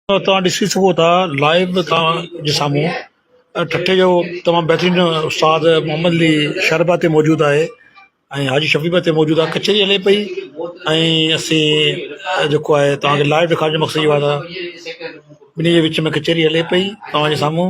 توهان ڏسي سگهو ٿا لائيو به توهان جي سامهون ٺٽي جو تمام بهترين استاد محمد علي شربا تي موجود آهي ۽ حاجي شفيع به اتي موجود آهي ڪچهري هلي پئي ۽ اسين جيڪو آهي توهان کي لائيو ڏيکارڻ جو مقصد اهو آهي ته ٻنهي جي وچ ۾ ڪچهري هلي پئي توهان جي سامهون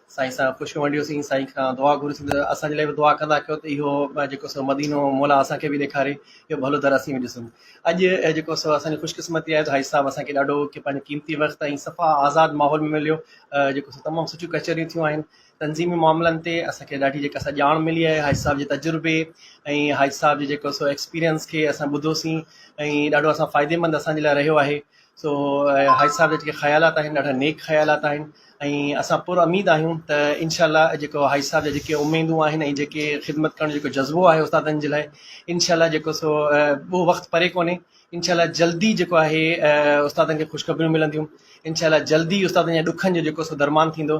سائين سان خوش ونڊيو سين سائين کان دعا گهريو سين ته اسان جي لاء به دعا ڪندا ڪيو ته اهو جيڪو سو مدينو مولا اسان کي به ڏيکاري اهو ڀلو در اسين به ڏسون اڄ جيڪو سو اسان جي خوش قسمتي آهي ته حاجي صاحب اسان کي ڏاڍو ڪي پنهنجو قيمتي وقت ۽ صفا آزاد ماحول ۾ مليو جيڪو سو تمام سٺيون ڪچهريون ٿيون آهن تنظيمي معاملن تي اسان کي ڏاڍي جيڪا سا ڄاڻ ملي آهي حاجي صاحب جي تجربي ۽ حاجي صاحب جي جيڪو سو ايڪسپيرينس کي اسان ٻڌو سين ۽ ڏاڍو اسان فائديمند اسان جي لاء رهيو آهي سو حاجي صاحب جا جيڪي خيالات آهن ڏاڍا نيڪ خيالات آهن ۽ اسان پر اميد آهيون ته انشاء الله جيڪو حاجي صاحب جا جيڪي اميدون آهن ۽ جيڪي خدمت ڪرڻ جو جيڪو جذبو آهي استادن جي لاء انشاء الله جيڪو سو ٻيو وقت پري ڪونهي انشاء الله جلدي جيڪو آهي استادن کي خوشخبريون ملنديون انشاء الله جلدي استادن جا ڏکن جو جيڪو سو درمان ٿيندو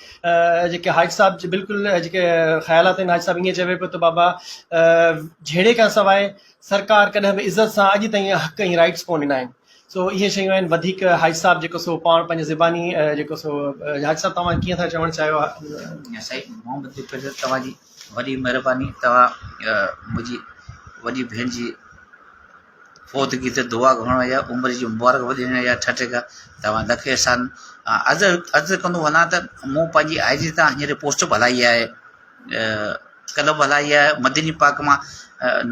جيڪي حاجي صاحب جي بلڪل جيڪي خيالات آهن حاجي صاحب ايئن چوي پيو ته بابا جهيڙي کان سواء سرڪار ڪڏهن به عزت سان اڄ تائين حق ۽ رائيٽس ڪون ڏنا آهن سو اهي شيون آهن وڌيڪ حاجي صاحب جيڪو سو پاڻ پنهنجي زباني جيڪو سو حاجي صاحب توهان ڪيئن ٿا چوڻ چاهيو سائين محمد جيڪر صاحب توهان جي وڏي مهرباني توهان منهنجي وڏي ڀيڻ جي فوتگي تي دعا گهرڻ يا عمر جي مبارڪ باد ڏيڻ جا ٺٽي کان توهان لکي احسان عرض عرض ڪندو وڃان ته مون پنهنجي آئي جي تان هينئر پوسٽ به هلائي آهي ڪلب به هلائي آهي مدني پاڪ مان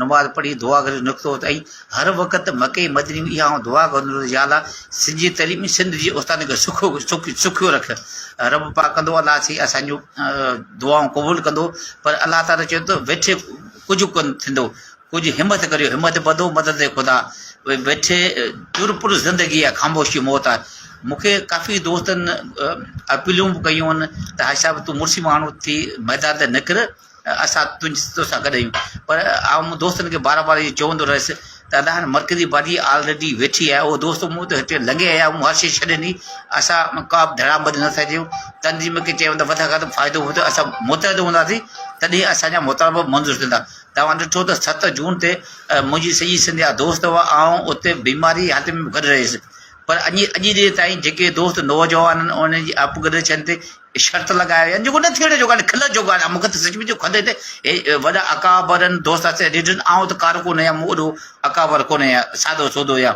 نماز پڙهي دعا گهري نڪتو ته اي هر وقت مڪي مدني اها آئون دعا گهرندو هوس يا الله سنڌ جي تعليم سنڌ جي استادن کي سکو سک سکيو رک رب پاڪ ڪندو الله سي اسانجو دعائون قبول ڪندو پر الله تعاليٰ چيو ته ويٺي ڪجهه ڪن ٿيندو ڪجهه همت ڪريو همت ٻڌو مدد خدا اهي ويٺي در پر زندگي آ خاموشي موت آ مونکي ڪافي دوستن اپيلون به ڪيون آهن ته حاجي صاحب تون مڙسي ماڻهو ٿي ميدان تي نڪر اسان تنهنجي توسان گڏ آهيون پر آئون دوستن کي بار بار اهي چوندو رهيس ته ادا هاڻي مرڪزي پارٽي آلريڊي ويٺي آهي اهو دوست مون ته هتي لنگهي آيا مون هر شي ڇڏي ڏني اسان ڪا به ڌڙام بندي نٿا ٿيون تنظيم کي چيو ته وڌ کان وڌ فائدو وٺو اسان متحد هونداسين تڏهن اسان جا مطالبا منظور ٿيندا توهان ڏٺو ته ست جون تي منهنجي سڄي سنڌ جا دوست هئا، آئون اتي بيماري جي حالت ۾ به گڏ رهيس، پر اڄ جي ڏينهن تائين جيڪي دوست نوجوانن انهن جي اپگريڊيشن تي شرط لڳايا ويا آهن، جيڪو نه ٿيڻ جو ڳالهه کل جو ڳالهه آهي، مون کي ته سچ پچ جو کل اچي ٿي ته وڏا اڪابرن دوستن سان ڏٺن، آئون ته ڪارو ڪونه هيان، مون اڏو اڪابر ڪونه هيان، سادو سودو هيان.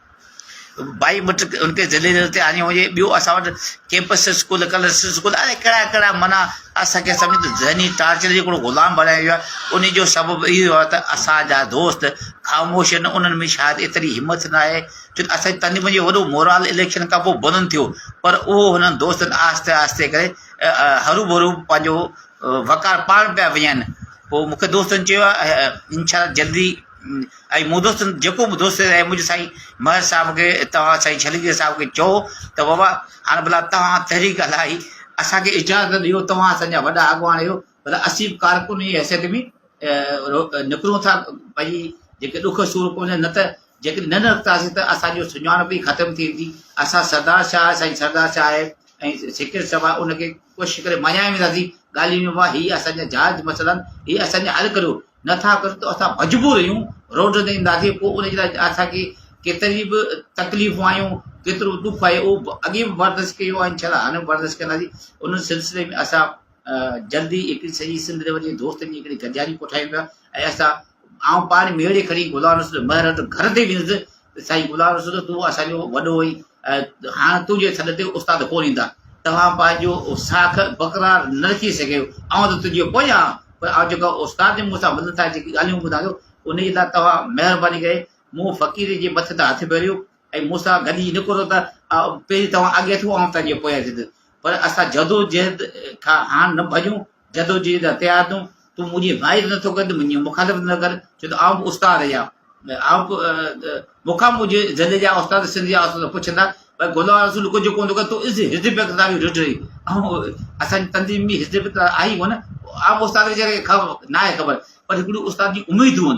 ٻائي مٽ ان کي ذليل ذليل تي آڻيو وڃي ٻيو اسان وٽ ڪيمپس اسڪول ڪلرس اسڪول الاء ڪهڙا ڪهڙا معنيٰ اسانکي سمجهه ته ذهني ٽارچر جو هڪڙو غلام بڻايو ويو آهي ان جو سبب اهو هو ته اسانجا دوست خاموش آهن انهن ۾ شايد ايتري همٿ نه آهي جو اسانجي تنظيم جو وڏو مورال اليڪشن کان پوء بلند ٿيو پر اهو هنن دوستن آهستي آهستي ڪري هرو ڀرو پنهنجو وقار پاڻ پيا وڃائين پوء مونکي دوستن چيو انشاء الله جلدي ۽ مون دوست جيڪو به دوست ۽ منهنجي سائين مهر صاحب کي توهان سائين ڇليجي صاحب کي چئو ته بابا هاڻ ڀلا توهان تحريڪ هلائي اسان کي اجازت ڏيو توهان اسان جا وڏا اڳواڻ آهيو ڀلا اسين به ڪارڪن جي حيثيت ۾ نڪرون ٿا ڀئي جيڪي ڏک سور پهنجن نه ته جيڪڏهن نه نڪتاسين ته اسان جو سڃاڻپ ئي ختم ٿي ويندي اسان سردار شاهه سائين سردار شاهه ۽ سيڪريٽري صاحب ان کي ڪوشش ڪري مڃائي وينداسين ڳالهيون وا هي اسان جا جائز مسئلا آهن هي اسان جا حل ڪريو نه ٿا ڪريون ته اسان مجبور اهيون روڊ تي ايندا سي پوء ان جي لاء اسان کي ڪيتري به تڪليفون آيون ڪيترو ڏک آيو اهو به اڳي به برداشت ڪيو آهي انشاء الله هاڻي به برداشت ڪنداسي ان سلسلي ۾ اسان جلدي هڪڙي سڄي سنڌ ريوٽ جي دوستن جي هڪڙي گڏجاڻي ڪوٺايون پيا ۽ اسان آئون پاڻ ميڙي کڻي غلام رسول مهر وٽ گهر تي ويندس سائين غلام رسول تون اسان جو وڏو هئين ۽ هاڻ تنهنجي سڏ تي استاد ڪونه ايندا. توهان پنهنجو ساک بقرار نه رکي سگهيو. آئون ته تنهنجو پويان آهيان، پر آئون جيڪا استاد جي منهن سان منٿ ٿا جيڪي ڳالهيون ٻڌان ٿو، ان جي لاء توهان مهرباني ڪري مون فقير جي مٿي تان هٿ ڦيريو ۽ مون سان گڏجي نڪرو ته پهرين توهان اڳي ٿيو آئون تنهنجي پويان ٿيندس. پر اسان جدوجهد کان هاڻ نه ڀڄون جدوجهد هٿيار تون تون منهنجي حمايت نه ٿو ڪرين ته منهنجي مخالفت نه ڪر ڇو ته آئون به استاد يا آئون به مونکان منهنجي ضلع جا استاد سنڌ جا استاد پڇندا پر غلام رسول ڪجهه ڪونه ٿو ڪري تو اس حزب اقتدار جي ڊٽ رهي آئون اسان تنظيم ۾ حزب اقتدار آهي ڪونه عام استاد ويچاري کي خبر نه آهي خبر پر هڪڙي استاد جي اميدون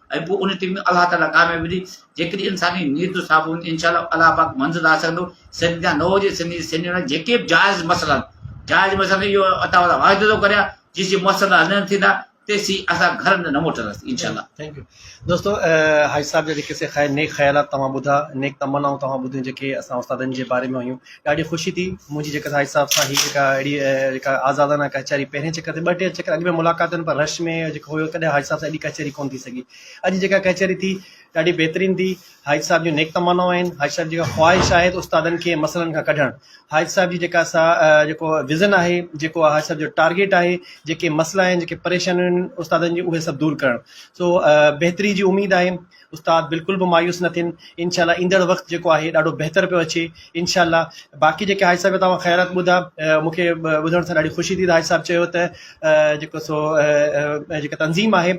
۽ پوء ان ٽيم ۾ الله تعاليٰ ڪاميابي ڏي جيڪڏهن انساني نيت جو صاحب هوندي انشاء الله الله پاڪ منزل حاصل ڪندو سنڌ جا نه هجي سنڌ جي سنڌ جا جيڪي به جائز مسئلا جائز مسئلا اهو عطا والا واعدو ٿو ڪريا جيسي مسئلا حل نه ٿيندا تيسي اسان گھر نه موٽنداسين انشاء الله ٿينڪ يو دوستو حاجي صاحب جا جيڪي سي خير نيڪ خيالات توهان ٻڌا نيڪ تمنائون توهان ٻڌيون جيڪي اسان استادن جي باري ۾ هيون ڏاڍي خوشي ٿي منهنجي جيڪا سائين صاحب سان هي جيڪا اهڙي جيڪا آزادانه ڪچهري پهرين چڪر تي ٻه ٽي چڪر اڳ ۾ ملاقاتن پر رش ۾ جيڪو هيو ڪڏهن حاجي صاحب سان اهڙي ڪچهري ڪون ٿي سگهي اڄ جيڪا ڪچهري ٿي ڏاڍي بهترين ٿي حاجي صاحب جون نيڪ تمنائون آهن حاجي صاحب جيڪا خواهش آهي استادن کي مسئلن کان ڪڍڻ حاجي صاحب جي جيڪا سا جيڪو وزن آهي جيڪو حاجي صاحب جو ٽارگيٽ آهي جيڪي مسئلا آهن جيڪي پريشانيون آهن استادن جي اهي سڀ دور ڪرڻ سو بهتري جي اميد آهي استاد بلڪل به مايوس نه ٿين انشاء الله ايندڙ وقت جيڪو آهي ڏاڍو بهتر پيو اچي انشاء الله باقي جيڪي حاجي صاحب توهان خيرات ٻڌا مونکي ٻڌڻ سان ڏاڍي خوشي ٿي حاجي صاحب چيو ته جيڪو سو جيڪا تنظيم آهي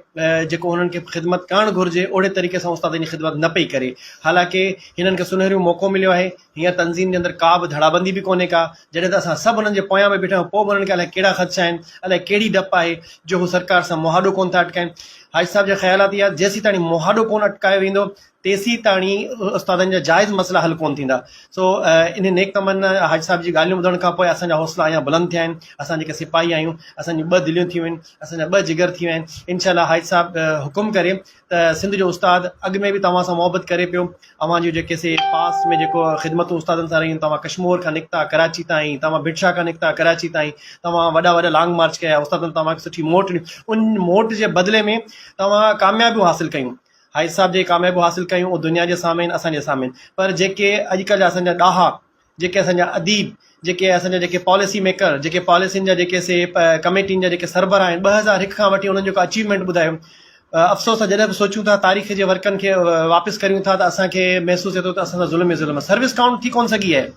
جيڪو انهن کي خدمت ڪرڻ گهرجي اهڙي طريقي سان استاد ان خدمت نه پئي ڪري حالانڪه هنن کي سنهريون موقعو مليو آهي هيئن تنظيم جي اندر ڪا به ڌڙابندي به ڪونهي ڪا جڏهن ته اسان سڀ انهن جي پويان به بيٺا آهيون، پوء به انهن کي الائي ڪهڙا خدشا آهن، الائي ڪهڙي ڊپ آهي جو هو سرڪار سان مهاڏو ڪونه ٿا اٽڪائين. حاجي صاحب جا خيالات اهي آهي ته جيسيتاڻي مهاڏو ڪونه اٽڪايو ويندو، تيسيتاڻي استادن جا جائز مسئلا حل ڪونه ٿيندا. سو انهن نيڪ تمنا يا حاجي صاحب جي ڳالهيون ٻڌڻ کان پوء اسان جا حوصلا اڃا بلند ٿيا آهن. اسان جيڪي سپاهي آهيون، اسان جون ٻه دليون ٿيون آهن، اسان جا ٻه جگر ٿي ويا آهن. انشاء الله حاجي صاحب حڪم ڪري ته سنڌ جو استاد اڳ ۾ به توهان سان محبت ڪري پيو اوهان جون جيڪي سي پاس ۾ جيڪو خدمتون استادن سان رهيون توهان ڪشمور کان نڪتا ڪراچي تائين توهان بٽشاهه کان نڪتا ڪراچي تائين توهان وڏا وڏا لانگ مارچ ڪيا استادن توهانکي سٺي موٽ ڏني ان موٽ جي بدلي ۾ توهان ڪاميابيون حاصل ڪيون حائز صاحب جي ڪاميابيون حاصل ڪيون دنيا جي سامهين اسان جي سامهين پر جيڪي اڄڪلهه جا اسان جا ڏاها جيڪي اسان جا اديب، جيڪي اسان جا جيڪي پاليسي ميڪر، جيڪي پاليسين جا جيڪي سي ڪميٽين جا جيڪي سربراهه آهن، ٻه هزار هڪ کان وٺي انهن جيڪو اچيومينٽ ٻڌايو، افسوس آهي جڏهن به سوچون ٿا تاريخ جي ورقن کي واپس ڪريون ٿا ته اسان کي محسوس ٿئي ٿو ته اسان سان ظلم ئي ظلم آهي. سروس ڪائونٽ ٿي ڪونه سگهي آهي.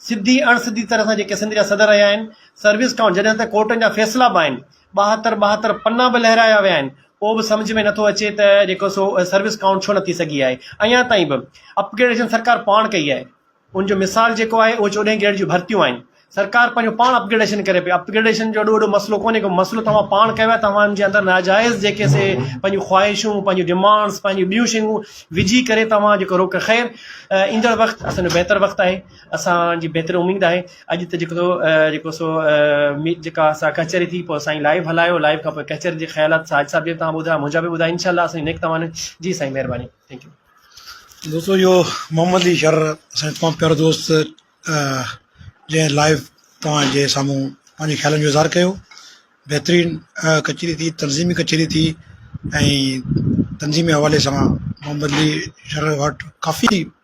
سڌي اڻ سڌي طرح سان جيڪي سنڌ جا صدر رهيا آهن، سروس ڪائونٽ جڏهن ته ڪورٽن جا فيصلا به آهن، ٻاهتر ٻاهتر پنا به لهرايا ويا آهن، پوء به سمجهه ۾ نٿو اچي ته جيڪو سو سروس ڪائونٽ ڇو نه ٿي سگهي آهي اڃا تائين به اپ گريڊيشن سرڪار پاڻ ڪئي آهي ان جو مثال جيڪو آهي اهو چوڏهين گريڊ جون ڀرتيون آهن سرڪار پنهنجو پاڻ اپ گريڊيشن ڪري پئي اپ گريڊيشن جو اڏو وڏو مسئلو ڪونهي ڪو مسئلو توهان پاڻ ڪيو آهي توهان جي اندر ناجائز جيڪي سي پنهنجون خواهشون پنهنجون ڊيمانڊس پنهنجون ٻيون شيون وجهي ڪري توهان جيڪو روڪ خير ايندڙ وقت اسان جو بهتر وقت آهي اسان جي بهترين اميد آهي اڄ ته جيڪو جيڪو سو جيڪا اسان ڪچهري ٿي پوء سائين لائيو هلايو لائيو کان پوء ڪچهري جي خيالات ساج صاحب جي تان ٻڌايا منهنجا به ٻڌايا انشاءالله اسان نيڪ توان جي سائين مهرباني ٿينڪ يو دوستو اهو محمد علي شر اسان تمام پيارو دوست جنهن لائيو توهان جي سامهون پنهنجي خيالن جو اظهار ڪيو بهترين ڪچهري ٿي تنظيمي ڪچهري ٿي ۽ تنظيمي حوالي سان محمد علي شر وٽ ڪافي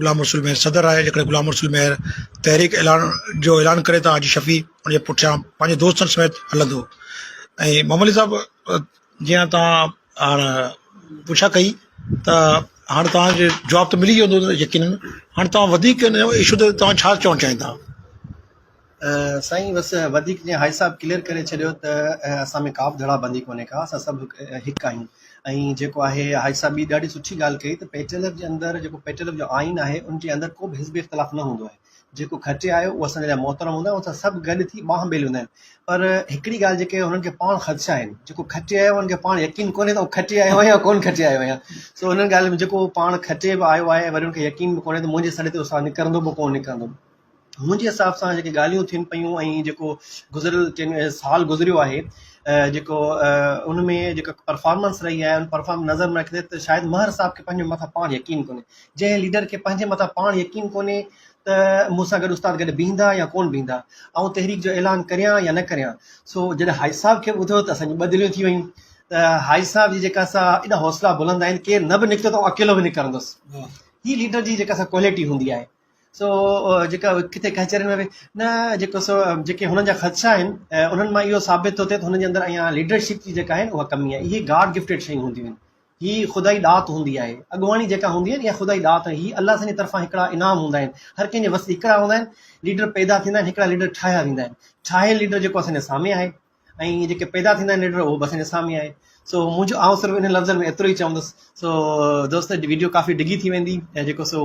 غلام رسول مير صدر آهي جيڪڏهن غلام رسول مير تحريڪ اعلان جو اعلان ڪري ته حاجي شفيع ان جي پٺيان پنهنجي دوستن سميت هلندو ۽ محمد علي صاحب جيان توهان هاڻ پڇا ڪئي ته هاڻ توهان کي جواب ته ملي ويو هوندو يقينن هاڻ توهان وڌيڪ ان ايشو تي توهان ڇا چوڻ چاهيندا سائين بس وڌيڪ جيئن هائي صاحب ڪليئر ڪري ڇڏيو ته اسان ۾ ڪابه ڌڙا بندي ڪونهي ڪا اسان سڀ هڪ آهيون ۽ جيڪو آهي هائي صاحب ٻي ڏاڍي سٺي ڳالهه ڪئي ته پيٽلف جي اندر جيڪو پيٽلف جو آئين آهي ان جي اندر ڪوبه حزبي اختلاف نه هوندو آهي جيڪو کٽي آيو اهو اسان جي لاء محترم هوندا آهن اسان سڀ گڏ ٿي ٻانهن ٻيلي هوندا آهن پر هڪڙي ڳالهه جيڪي هنن کي پاڻ خدشا آهن جيڪو کٽي آيو هنن کي پاڻ يقين ڪونهي ته کٽي آيو آهيان ڪون کٽي آيو آهيان سو هنن ڳالهه ۾ جيڪو پاڻ کٽي به آيو آهي وري هن کي يقين به ڪونهي ته منهنجي سڏ تي اسان نڪرندو به ڪون نڪرندو منهنجي حساب سان جيڪي ڳالهيون ٿين پيون ۽ جيڪو گذريل ڪن سال گذريو آهي جيڪو ان ۾ جيڪا پرفارمنس رهي آهي ان پرفارمنس نظر ۾ رکندي ته شايد مهر صاحب کي پنهنجي مٿان پاڻ يقين ڪونهي جنهن ليڊر کي پنهنجي مٿان پاڻ يقين ڪونهي ته مون سان گڏ استاد گڏ بيهندا يا ڪونه بيهندا آئون تحريڪ جو اعلان ڪريان يا نه ڪريان سو جڏهن حاجي صاحب کي ٻڌو ته اسان جون ٻه دليون ٿي ويون ته حاجي صاحب جي جيڪا سا ايڏا حوصلا بلند آهن ڪير نه به نڪتو ته اڪيلو به نڪرندس هي ليڊر جي جيڪا سا ڪواليٽي هوندي آهي سو جيڪا ڪٿي ڪچهرين ۾ به نه جيڪو سو جيڪي هنن جا خدشا آهن انهن مان اهو ثابت ٿو ٿئي ته هنن جي اندر اها ليڊرشپ جي جيڪا آهي اها ڪمي آهي هي گاڊ گفٽيڊ شيون هونديون آهن هي خدائي ڏات هوندي آهي اڳواڻي جيڪا هوندي آهي اها خدائي ڏات آهي هي الله سان جي طرفان هڪڙا انعام هوندا آهن هر ڪنهن جي وس هڪڙا هوندا آهن ليڊر پيدا ٿيندا آهن هڪڙا ليڊر ٺاهيا ويندا آهن ٺاهيل ليڊر جيڪو اسان جي سامهين آهي ۽ جيڪي پيدا ٿيندا آهن ليڊر اهو به اسان جي سامهين آهي سو منهنجو آئون صرف ان لفظن ۾ ايترو ئي چوندس سو دوست ويڊيو ڪافي ڊگهي ٿي ويندي جيڪو سو